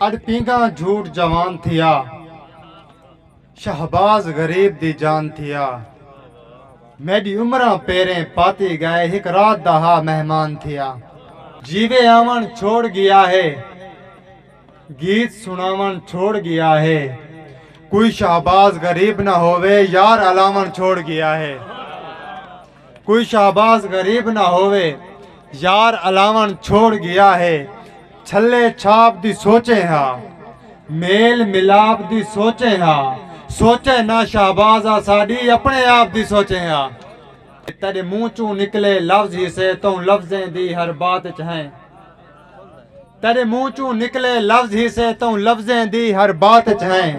اݙ پینگھاں جھوٹ جوان تھیا شہباز غریب دی جان تھیا میݙی عمراں پیریں پاتی ڳئے ہک رات دا ہا مہمان تھیا جیوے آوݨ چھوڑ ڳیا ہے گیت سݨاوݨ چھوڑ ڳیا ہے کوئی شہباز غریب نہ ہووے یار الاوݨ چھوڑ ڳیا ہے۔ کوئی شہباز غریب نہ ہووے۔ یار الاوݨ چھوڑ ڳیا ہے۔ چھلے چھاپ دی سوچیں ہا۔ میل ملاپ دی سوچیں ہا۔ سوچیں نہ شہباز آ ساݙی اپݨے آپ دی سوچیں ہا۔ تیݙے منہ چوں نکلے لفظ ہیسے توں لفظیں دی ہر بات اچ ہیں۔ تیڈے منہ چوں نکلے لفظ ہی سے توں لفظیں دی ہر بات اچ ہیں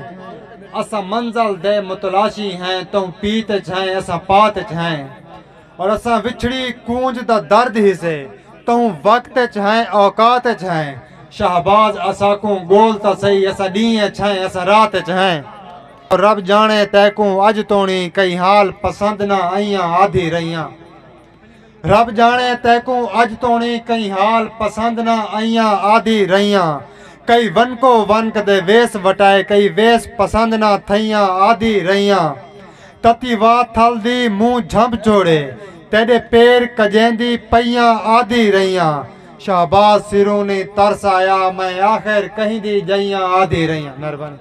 اساں منزل دے متلاشی ہیں توں پیت اچ ہیں اساں پات اچ ہیں اور اساں وچھڑی کونج دا درد ہی سے توں وقت اچ ہیں اوقات اچ ہیں شہباز اساکوں گول تاں سہی اساں ڈینہہ اچ ہیں اساں رات اچ ہیں اور رب جانے تیکوں اج تونی کئی حال پسند نہ ائیاں آدھی رہیاں رب جانے تیکوں اج تونی کئی حال پسند نہ آئیاں آدھی رہیاں کئی ونکو ونک دے ویس وٹائے کئی ویس پسند نہ تھئیاں آدھی رہیاں تتی وا تھل دی منہ جھمب چھوڑے تیڈے پیر کجیندی پئیاں آدھی رہیاں شہباز سرونی ترس آیا میں آخر کہیں دی جئیاں آدھی رہیاں مہربانی